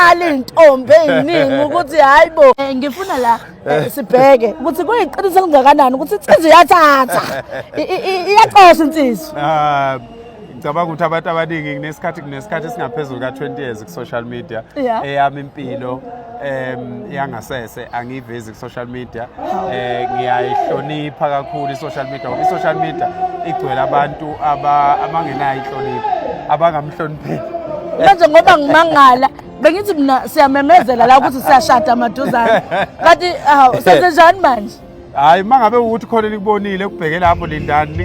ziyakhala izintombi eziningi ukuthi hayibo eh, ngifuna la eh, eh. sibheke ukuthi kuyiqiniso elingakanani ukuthi insizwa iyathatha iyaqosha insizwa ah, ngicabanga ukuthi abantu abaningi kunesikhathi kunesikhathi esingaphezulu ka-20 years ku-social media eyami impilo um yangasese angiyivezi social media eh ngiyayihlonipha kakhulu i-social media ngoba i-social media igcwele abantu aba- abangenayo inhlonipho abangamhlonipheli manje ngoba ngimangala bengithi mina siyamemezela la ukuthi siyashada maduzane kanti hawu senzenjani manje hhayi uma ngabe ukuthi khona elikubonile kubheke lapho lindani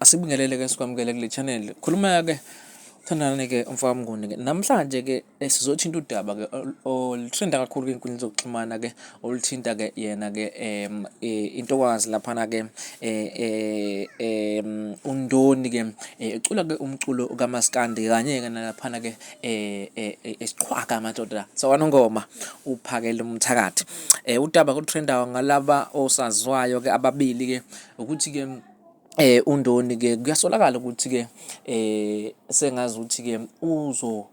Asibingelele-ke sikwamukele kule channel. Khuluma-ke uthandane-ke umfowabo Mnguni-ke. Namhlanje-ke eh, sizothinta udaba-ke oluthrinda kakhulu kwinkundla zokuxhumana-ke oluthinta-ke yena-ke um intokazi laphana-ke um undoni-ke ecula-ke umculo kamaskandi kanye-ke nalaphana-ke um esiqhwaga amadoda sawanongoma uphakele umthakathi. Um udaba koluthrindayo ngalaba osaziwayo-ke ababili-ke ukuthi-ke eh undoni ke kuyasolakala ukuthi ke eh sengazi ukuthi ke uzo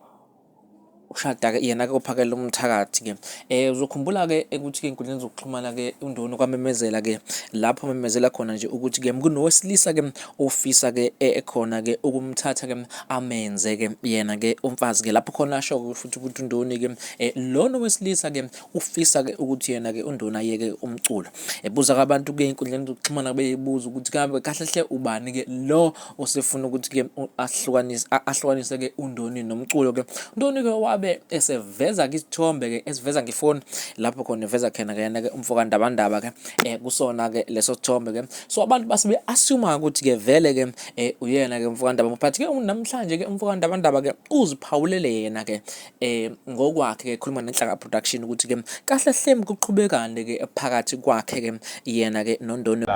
ushada ke yena ke ophakela umthakathi ke eh uzokhumbula ke ukuthi ke inkundleni zokuxhumana ke undoni kwamemezela ke lapho memezela khona nje ukuthi ke kunowesilisa ke ofisa ke eh, ekhona ke ukumthatha ke amenze ke yena ke umfazi ke lapho khona asho futhi ukuthi undoni ke eh, lona wesilisa ke ufisa ke ukuthi yena ke unduna yeke umculo ebuza abantu ke inkundleni zokuxhumana beyibuza ukuthi kabe kahle hle ubani ke lo osefuna ukuthi ke ahlukanise ahlukanise ke undoni nomculo ke undoni ke wabe eseveza ke isithombe ke esiveza ngefoni lapho khona eveza khona ke yena ke umfoka ndabandaba ke eh, kusona ke leso sithombe ke so abantu base be assume ukuthi ke vele ke eh, uyena ke umfoka ndaba but ke namhlanje ke umfoka ndabandaba ke uziphawulele yena ke eh ngokwakhe ke khuluma nenhlanga production ukuthi ke kahle hle kuqhubekane ke phakathi kwakhe ke yena ke nondondo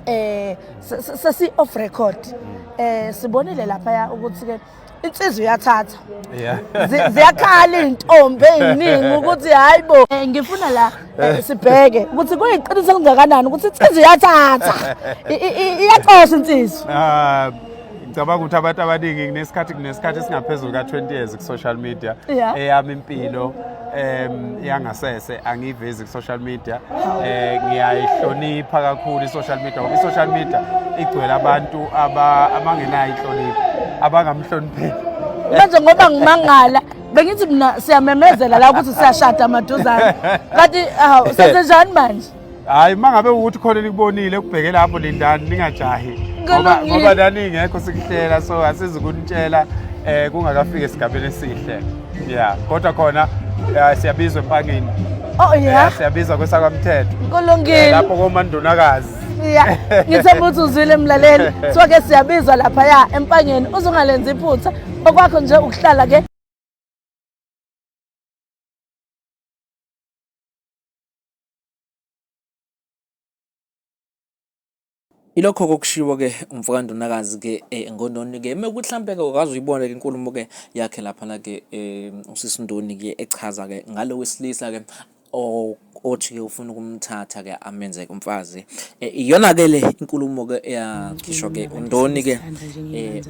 eh sesi off record eh sibonile lapha ukuthi ke insizwa uyathatha ziyakhala izintombi eziningi ukuthi hayibo eh, ngifuna la eh, eh. sibheke ukuthi kuyiqiniso kungakanani ukuthi insizwa uyathatha iyaqosha insizwa ah, ngicabanga ukuthi abantu abaningi kunesikhathi kunesikhathi esingaphezulu ka-20 years ku-social media eyami impilo um yangasese angiyivezi ku-social media um ngiyayihlonipha kakhulu i-social media ngoba i-social media igcwele abantu abangenayo inhlonipho abangamhlonipheli manje ngoba ngimangala bengithi mina siyamemezela la ukuthi siyashada maduzane kanti hawu senzenjani manje hayi uma ngabe ukuthi khona elikubonile kubheke lapho lindani ningajahi ngoba Kulungile. ngoba nani ngekho sikuhlela so asizi kunitshela eh kungakafiki esigabeni esihle yeah kodwa khona eh, siyabizwa empangeni oh Eh, ya siyabizwa kwesakwamthetho Eh, kulungile lapho komandunakazi ya ngithemba ukuthi uzwile mlaleli kuthiwa ke siyabizwa laphaya empangeni uzungalenzi iphutha okwakho nje ukuhlala ke Ilokho kokushiwo-ke umfokandunakazi-ke eNgondoni-ke mekuthi hlampe-ke ukaze uyibone-ke inkulumo-ke yakhe laphana-ke usisi Ndoni-ke echaza-ke ngalo wesilisa-ke othi-ke ufuna ukumthatha-ke amenze-ke umfazi. Iyona-ke le inkulumo-ke eyakhishwa-ke uNdoni-ke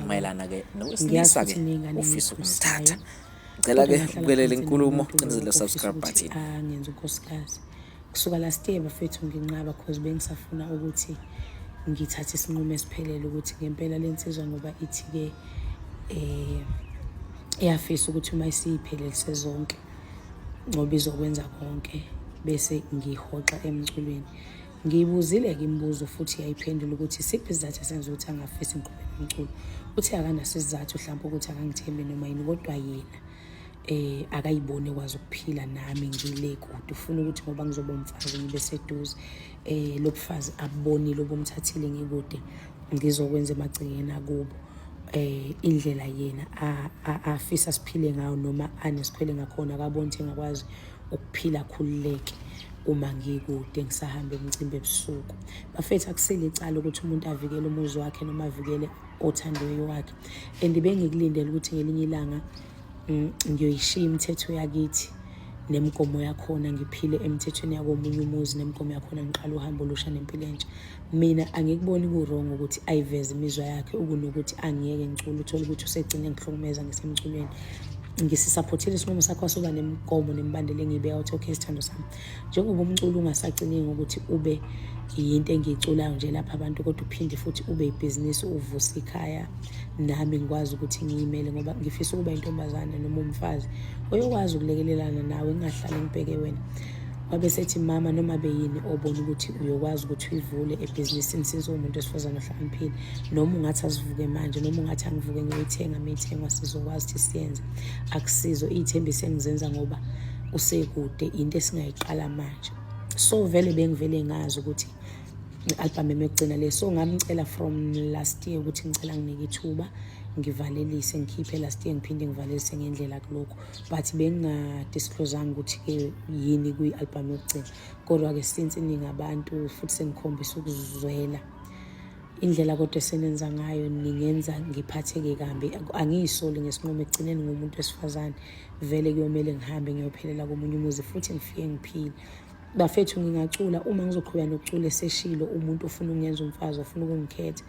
mayelana-ke nowesilisa-ke ofisa ukumthatha. Ngicela ke ubukelele inkulumo cinezele subscribe button. Ah ngenza unkosikazi. Kusuka last year bafethu nginqaba because bengisafuna ukuthi ngithathe isinqumo esiphelele ukuthi ngempela lensizwa ngoba ithi ke eh iyafisa ukuthi uma isiyiphelelise zonke ngoba izokwenza konke bese ngihoxa emculweni Ngiyibuzile-ke imibuzo futhi yayiphendula ukuthi isiphi isizathu esenza ukuthi angafisi ngiqhubeke umculo. Uthe akanaso isizathu hlampe ukuthi akangithembi noma yini kodwa yena eh akayibone kwazi ukuphila nami ngile kude ufuna ukuthi ngoba ngizoba umfazi ngibe seduze eh lobufazi abonile obumthathile ngikude ngizokwenza emagcingeni akubo eh indlela yena afisa siphile ngayo noma anesikhwele ngakhona akaboni ukuthi ngakwazi ukuphila khululeke uma ngikude ngisahamba emcimbi ebusuku bafethu akusile icala ukuthi umuntu avikele umuzi wakhe noma avikele othandiweyo wakhe and bengikulindele ukuthi ngelinye ilanga mm, ngiyoyishiya imithetho yakithi nemigomo yakhona ngiphile emithethweni yakomunye umuzi nemigomo yakhona ngiqala uhambo olusha nempilo entsha mina angikuboni ku-wrong ukuthi ayiveze imizwa yakhe ukunokuthi angiyeke ngicula uthole ukuthi usegcine ngihlukumeza ngisemculweni ngisisaphothile isinqumo sakho soba nemigomo nemibandela engiyibeka ukuthi okay sithando sami njengoba umculo ungasaciningi ukuthi ube yinto engiyiculayo nje lapha abantu kodwa uphinde futhi ube ibhizinisi uvuse ikhaya nami ngikwazi ukuthi ngiyimele ngoba ngifisa ukuba intombazane noma umfazi oyokwazi ukulekelelana nawe ngingahlali ngibheke wena wabe sethi mama noma beyini obona ukuthi uyokwazi ukuthi uyivule ebhizinisini since uwumuntu wesifazane ohlakaniphile noma ungathi asivuke manje noma ungathi angivuke ngiyoyithenga miyithengwa sizokwazi ukuthi siyenze akusizo iy'thembiso engizenza ngoba usekude into esingayiqala manje so vele bengivele ngazi ukuthi i-albhamu emekugcina le so ngamcela from last year ukuthi ngicela nginike ithuba ngivalelise ngikhiphe last year ngiphinde ngivalelise ngendlela kulokhu but bengingadisclosanga ukuthi-ke yini kwi-album yokugcina kodwa-ke since ningabantu futhi senikhombisa ukuzwela indlela kodwa esenenza ngayo ningenza ngiphatheke kambi angiyisoli ngesinqumo ekugcineni ngomuntu wesifazane vele kuyomele ngihambe ngiyophelela komunye umuzi futhi ngifike ngiphile bafethu ngingacula uma ngizoqhubeka nokucula eseshilo umuntu ofuna ukungenza umfazi ofuna ukungikhetha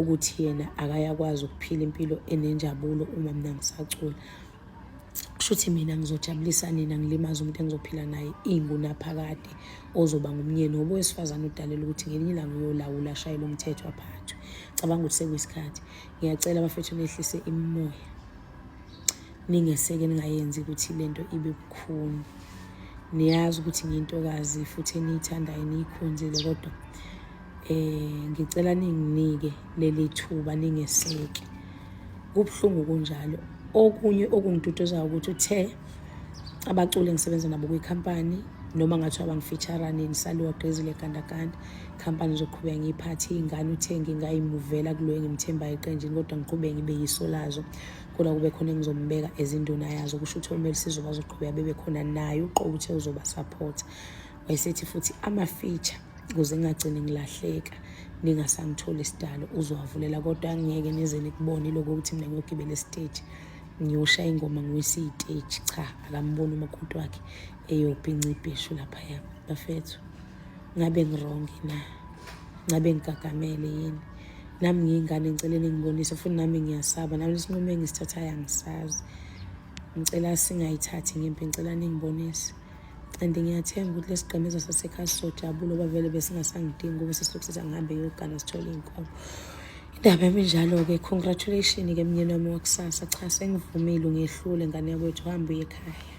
ukuthi yena akayakwazi ukuphila impilo enenjabulo uma mina ngisacula kushuthi mina ngizojabulisa nina ngilimaza umuntu engizophila naye ingunaphakade ozoba ngumnyeni ngoba owesifazane udalela ukuthi ngelinye ilanga uyolawula ashayele umthetho aphathwe cabanga ukuthi sekuyisikhathi ngiyacela abafethu nehlise imimoya ningeseke ningayenzi ukuthi le nto ibe bukhuni niyazi ukuthi ngiyintokazi futhi eniyithandayo niyikhonzile kodwa um ngicela ninginike leli thuba ningeseke kubuhlungu kunjalo okunye okungiduduzayo ukuthi uthe abaculi engisebenza nabo kwikhampani noma ngathiwa bangifeaturane ngisaliwa gqezile gandaganda khampani zoqhubeka ngiyiphathe iy'ngane uthe ngingayimuvela kulo engimthembayo eqenjini kodwa ngiqhubeke ngibe yiso lazo kodwa kube khona engizombeka ezinduna yazo kusho ukuthi omele sizokwazi ukuqhubeka bebe khona naye uqobo uthe uzobasaphotha wayesethi futhi ama-feature ukuze ngingagcini ngilahleka ningasangitholi isidalo uzowavulela kodwa angiyeke nize nikubone lokho ukuthi mina ngiyogibela esiteji ngiyosha ingoma nguyise iy'teji cha akamboni umakoti wakhe eyobhinca ibheshu laphaya bafethu ngabe ngirongi na ngabe ngigagamele yini nami ngiyingane ngicele ningibonise futhi nami ngiyasaba nami isinqumo engisithathayo angisazi ngicela singayithathi ngempi ngicela ningibonise and ngiyathemba ukuthi lesigqemezo sasekhaya sizojabula oba vele besingasangidingi kube sesilokhu sithi angihambe yogana sithole iy'nkomo indaba yami njalo-ke congratulation ke mnyeni wami wakusasa cha sengivumile ungehlule ngane yakwethu hambe uye ekhaya